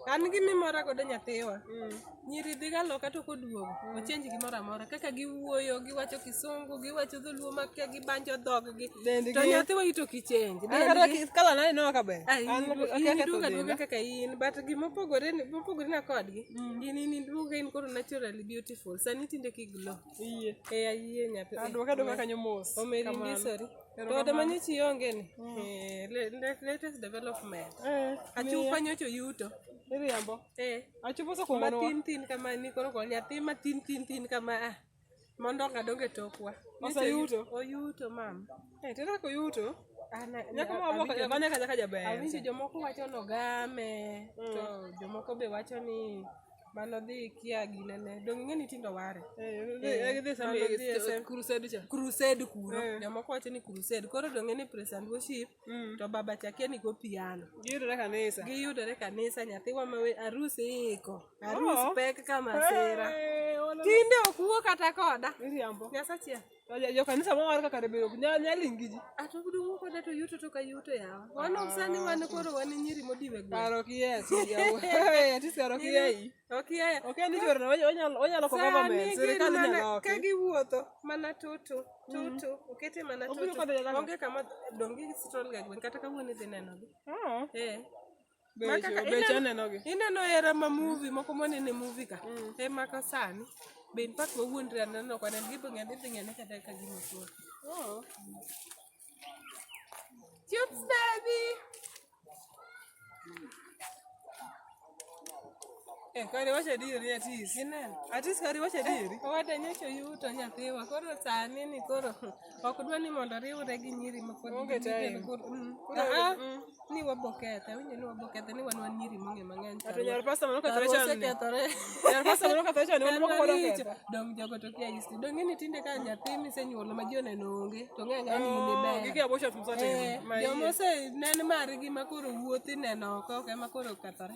an gi mimora godo nyathiwa nyiri dhiga loka to koduogo ochenji gimoro amora kaka giwuoyo giwacho kisungu giwacho dholuo makia gibanjo dhoggi Dendgi. to nyathiwa ito kichenji An kata ki- kala nani no kaber. An akia in ketho duga duga denda. kaka in but gima opogore ni- mopogore na kodgi in in duga in koro naturally beautiful sani tinde kiglo Iyie. Eh, ayie nyathi. Ah, duoka duoka kanyo mos. Omeri Kamano. ndisori. To Erokamano. ode manye chi onge ni. Eh, le- le- latest development. Eh, Achupa nyocho yuto. iriambo. Eh. Achupa soko Ma mono. tin tin kama ni koro koro nyathi ma tin tin tin kama ah. Mondo ngadonge tokwa. Oseyuto? Oyuto mam. Eh, tera ko yuto. Ana Nyako ma waboko awinjo- kanya kanya kajaber. Awinjo jomoko wacho nogame to jomoko be wacho ni mano dhi kia gine ne donge ng'e ni tindo ware crusade kuro eh. jomoko wacho ni crusade koro donge ni praise and worship mm. to baba chakia ni go piano giyudore kanisa giyudore kanisa nyathi wa ma arus iko arus oh. pek kama sera tinde ok wuo kata koda nyasachiel jo kanisa ma war kaka rebero nyal nyal ingiji ato ah, gudu ko da to yuto to ka yuto ya wan of sani wan ko ro wan nyiri modiwe go paro ki yes ya ati sero ki ya yi ok ya ok ni jor na onyal onyal ko gaba me serikali na na ka gi wuoto mana tutu mm. tutu okete mana tutu onge kama dongi sitol ga gwen kata ka wuone dhi neno gi ah. eh ineno era ma muvi moko monene muvi ka mm. e maka sani be mpak wawuondre aneno kwana gibo ng'ani dhi ng'ane kata ka gima tuo oh. Chips baby Eh, kare wacha diri atis. Ineno? Atis kare wacha diri. Eh, Owadanyo cho yuto nyathiwa. Koro sani ni koro ok dwa ni mondo riwre gi nyiri ma pod Onge time. gin kod- mm. Koro, Ah, ah, mm. ni wabokethe awinjo ni wabokethe ni wan wan nyiri mong'e mang'eny Ato nyar pasta moro kethore chon ni. osekethore Nyar pasta moro kethore chon ni moro moko pod Maricho, oketho. dong jogo to kia isti dong ng'eni tinde ka nyathi misenyuolo ma ji oneno onge to ng'e ng'a ni in Oh, iber gige abortion msatimo. Eh, Ma joma iye. osenene margi ma koro wuothi neno oko ok ema koro okethore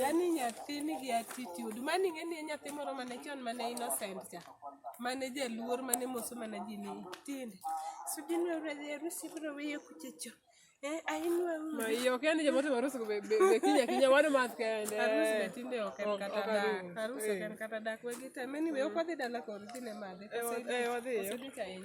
yani nyathi nigi attitude mani ng'e ni nyathi moro mane chon mane innocent cha mane jaluor mane moso mana ji ni tinde sudinwerusi bro weye kuchecho Eh, ainua huyu. Ma hiyo kende jamaa tu harusi be be kinya kinya wana mask kende. Harusi be tinde oken kata da. Harusi oken kata da kwa gita. Mimi wewe kwa dada la kwa rudi ne made. Eh, eh, wadhi. Sudi kaini.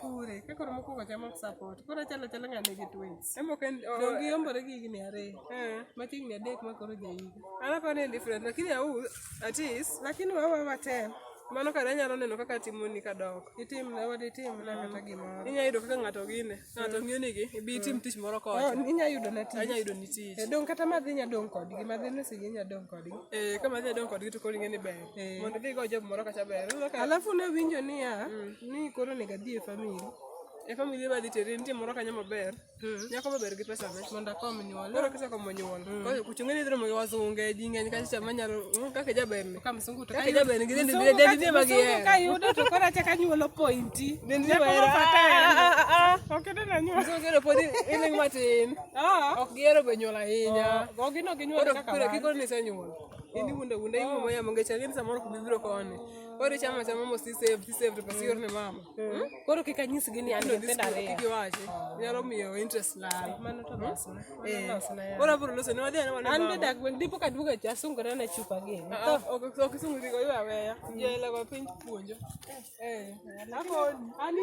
Kure, ka koro mokwongo chamo ok support. Koro chalo chalo ng'ane gi twins. Embo ken Donge giombore gi higni ariyo. Eh. Ma higni adek ma koro jahiga. Alafu ni different lakini au at least Lakini wawa watem. mano kare anyalo neno kaka timoni kadok. Itim na wadi tim na kata gimoro. Inya yudo kaka ng'ato gine, ng'ato ng'iyo nigi, ibi itim tich moro Oh, kocha. inya yudo na tich. Anya yudo ni tich. Eh, Dong kata madhi nya dong kodgi, madhi ni sigi nya dong kodgi. Eh, kama dhi adong kodgi to koro ing'e ni ber. Eh. Mondo dhigo job moro kacha ber. Alafu ne winjo niya, mm. ni koro onego adhi e famili. E famili ma dhi teri nitie moro kanyo maber. Mm. Nyako maber gi pesa ne. Mondo akom nyuol. Koro kisa kom nyuol. Mm. Koro kuchunge ni dhromo wasunge ji ng'eny kacha chama nyalo kaka jaber ni. Kama sungu to kaka jaber ni gidhi ndi ndi ndi ma gi. Sungu ka yudo to koro acha ka nyuolo pointi. Ndi ndi ma era. Ok ene na nyuol. Sungu kero podi ene matin. Ah. Ok gero be nyuol ahinya. Oh, ok gino gi nyuol kaka. Koro kiko ni se nyuol. Ini wunda wunda hivi mama ya mangecha gani samoro kubibiro kone. Ore chama cha mama si save si save pasi yorne mama. Koro kika nyisi gini ando penda re. Kiki waje. Nyalo miyo interest la. Mano to basi. Eh. Ora buru lose ni wadhi ana wana. Ande dak wen dipo ka duga cha sungu na chupa gini. Ok ok sungu digo yo aweya. Jela kwa pinch puonjo. Eh. Ako ani